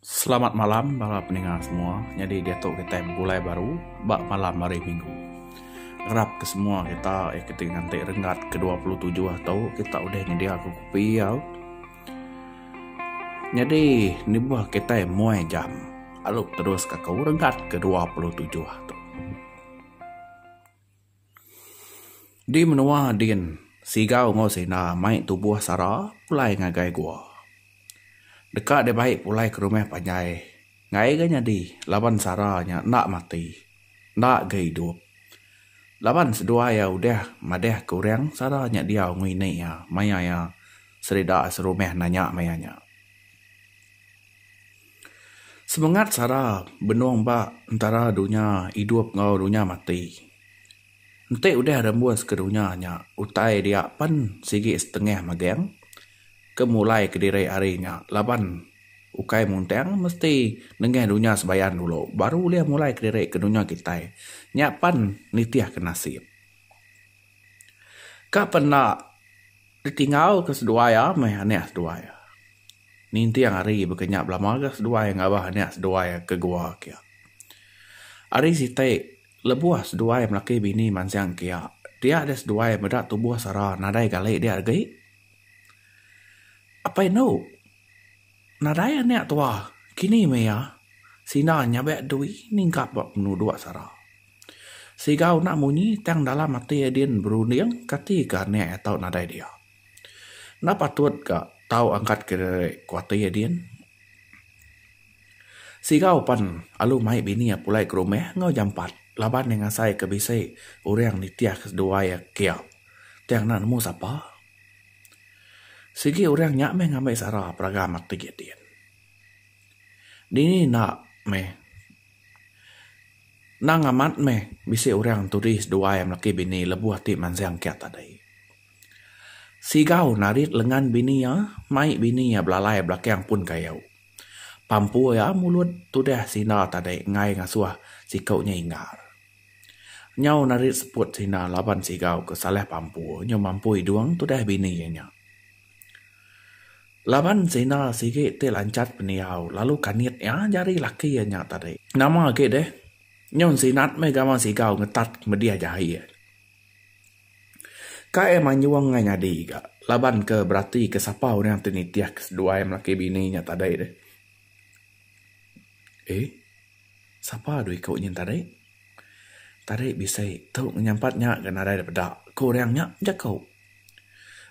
Selamat malam bala peninga semua. Nyadi diatu kitai begulai baru ba malam hari minggu. Ngarap ke semua kita ke ti nganti renggat ke dua puluh tujuh tu kita udah nyedia ke kopi au. Nyadi nibuh kitai muai jam alu terus ka aku renggat ke dua puluh tujuh tu. Di menua din, Sigau enggau Sina mai tubuh sara pulai ngagai gua. Deka deh bai pulai ke rumah panjai ngai ga nyadi laban sara nya enda mati, enda ga idup. Laban seduai iya udah madeh ke orang sara nya diau ngini iya maya iya serida serumah nanya maya nya. Semengat sara benung ba entara dunya idup enggau dunya mati. Enti udah rembus ke dunya nya utai dia pen sigi setengah megeng ke mulai kediri hari nya laban ukai muntang mesti nengah dunya sebayan dulu baru ulih mulai kediri ke dunya kitai. Nya pen nitihka nasip. Ka pen enda ditingau ke seduai a meh anek seduai a. Ninting ari baka nya belama ga seduai ngabah anek seduai ke gua kia. Ari siti lebuh seduai melaki bini mansang kia dia deh seduai meda tubuh sara nadai gali dia agi. Apai enu nadai anek tuah kini meh iya sida nyabek dui ningkap ba penuduk sara. Siga unak munyi tang dalam ati adin berunding kati ke anak atau nadai dia. Enda patut ka tau angkat kediri ku ati adin. Siga upan alu mai bini iya pulai ke rumah enggau jampat laban iya ngasai ke bisi orang nitih ke seduai iya kia tang enda nemu sapa. Sigi orang nya meh ngambi sara peragam ati adin. Dini enda meh. Nang amat meh bisi urang turis duai melaki bini lebuh ti mansang kiat tadi. Sigau narit lengan bini iya, mai bini iya belalai belakang pun kayu. Pampu iya mulut tudah sinda tadi enggai ngasuh siku nya inggar. Nyau narit seput sinda laban sigau ke salah pampu nyau mampu idung tudah bini iya nya. Laban sida sigi ti lanchat pendiau lalu kanit iya jari laki iya nya tadi. Nama agi deh, nyun Sinat meh gawa sigau ngetat kemedih jahi iya. Ka iya manjung ngai nyadi ga laban ke berati ke sapa orang ti nitih ke seduai melaki bini nya tadi deh. Ee. Sapa dua iku nyin tadi? Tadi bisi tu ngenyampat nya ga nadai da peda, ku orang nya bejaku.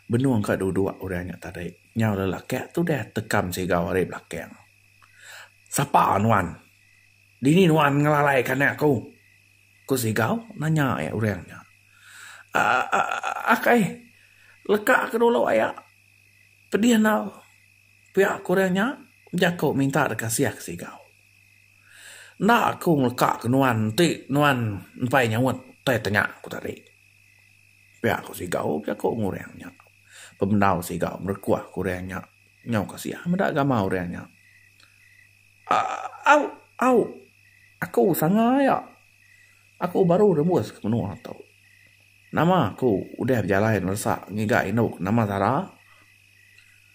Benung ka duduk orang nya tadi, nyau lelaki tu udah tekam sigau ari belakang. Sapa nuan? Dini nuan ngelalaika anak aku? ku sigau nanya iya orang nya. Aaa akai, leka ka dulu aya pedih enggau pia, ku orang nya bejaku minta deka siah ke sigau. Enda aku ngeleka ke nuan enti nuan empai nyaut utai tanya ku tadi. Pia ku Sigau pia ku Orang nya. Pemendau Sigau ngerekoh ke orang nya nyau kasiah meda gamal orang nya. Au au aku sanga aya. Aku baru rembus ke menua tu. Nama ku udah bejalai neresa ngiga indu ke nama Zara?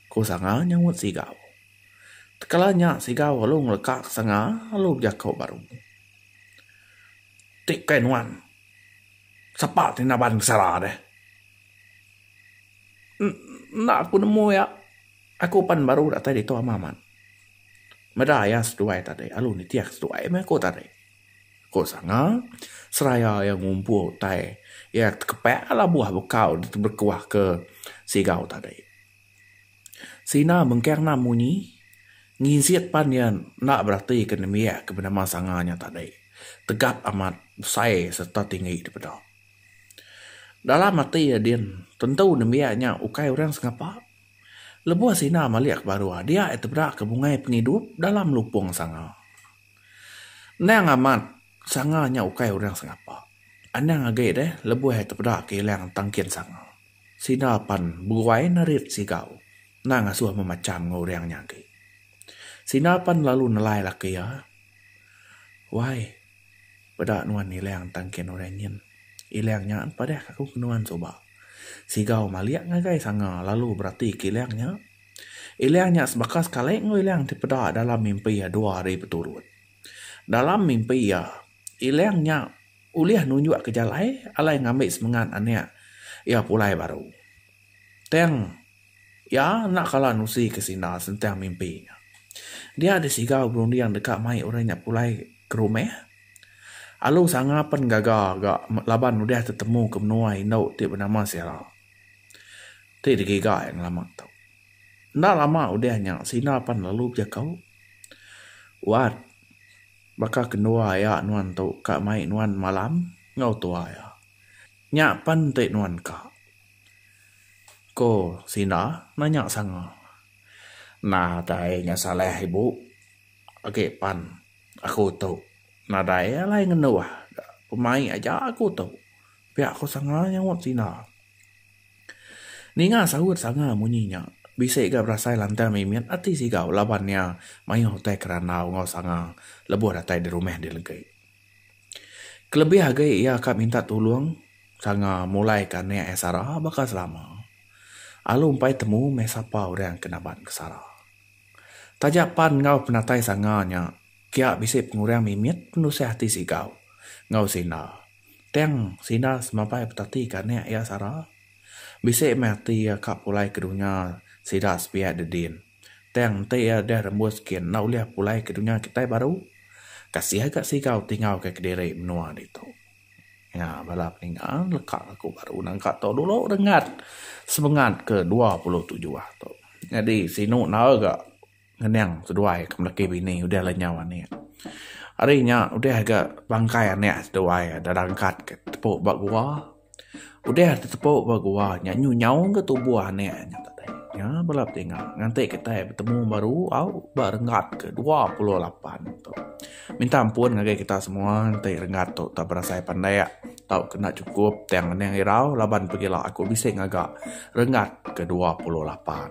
Ku sanga nyaut Sigau. Tekala nya siga lalu ngeleka ke sanga lalu bejako baru. Ti bukai nuan. Sapa ti naban ke sara deh. Enda aku nemu iya. Aku pan baru datai ditu ama amat. Meda iya seduai tadi lalu nitih ke seduai meh aku tadi. Ko sanga seraya iya ngumpul utai iya tekepak labuh bekau diteberekuah ke sigau tadi. Sina mengkang enam munyi nginsit pan iya enda beratika nembiak ke benama sanga nya tadi tegap amat besai sereta tinggi dipeda. Dalam ati iya din tentu nembiak nya ukai orang sengapa lebuh sina malik ke baruh dia iya tebeda ke bungai pengidup dalam lupung sanga. Endang amat sanga nya ukai orang sengapa. Anang agi deh lebuh iya tebeda ke ilang tangkin sanga. Sida pan beguai nerit sigau endang ngasuh memacham enggau orang nya agi. Sida pan lalu nelai laki iya, Wai, peda nuan Ilang tang kin orang nyin. Ilang nya empadahka aku ke nuan suba. Sigau malik ngagai sanga lalu beratika Ilang nya. Ilang nya sebaka sekali enggau Ilang ti peda dalam mimpi iya dua hari beturut. Dalam mimpi iya. Ilang nya ulih nunjukka jalai alai ngambi semengat anak iya pulai baru. Tang iya enda kala nusika senda sentang mimpi nya. Dia deh siga berunding deka mai orang nya pulai ke rumah. Alu sanga pen gaga ga laban udah tetemu ke menua indu ti benama Sera ti digiga iya ngelama tu. Enda lama udah nya senda pen lalu bejekau. Wat. Baka kendua iya nuan tu ka mai nuan malam enggau tua iya. Nya pen enti nuan ka. Ko Sina nanya sanga. Nah dai nya salah ibu. Agi pan aku tu nadai alai ngendu ah. Pemai aja aku tu. Pia ko Sanga nyaut sida. Ninga saut Sanga munyi nya, bisi ga berasai lantang mimit ati Sigau laban iya mayuh utai ke randau enggau Sanga lebuh datai di rumah di Legi. Kelebih agi iya ka minta tulung Sanga mulai ka anak iya Sara baka selama. Alu empai temu meh sapa orang ke naban ke Sara. Taja pan enggau penatai Sanga nya, kia bisi pengurang mimit penusah ati Sigau enggau Sinda. Tang sida semapai betati ke anak iya sara. Bisi meh ati iya ka pulai ke dunya sida sebiak di din. Tang enti iya deh rembus gin enda ulih pulai ke dunya kitai baru. Ka sia ga sigau tingau ke kediri menua ditu. Nya bala peninga leka aku baru naga tu dulu rengat semengat ke dua puluh tujuh tu. Nyadi sinu enda ga. Ngening seduai ke meleki bini udah le nyau anik. Hari nya udah ga bangkai anik seduai da rangkat ke tepu ba gua. Udah tetepu ba gua nya nyu nyau ga tubuh anik nya tadi. Nya bala betinga nganti kitai betemu baru au ba renggat ke dua puluh lapan tu. Minta ampun ngagai kita semua enti renggat tu tak berasai pandak tau ke enda chukup tang ngening irau laban pegila aku bisi ngaga renggat ke dua puluh lapan.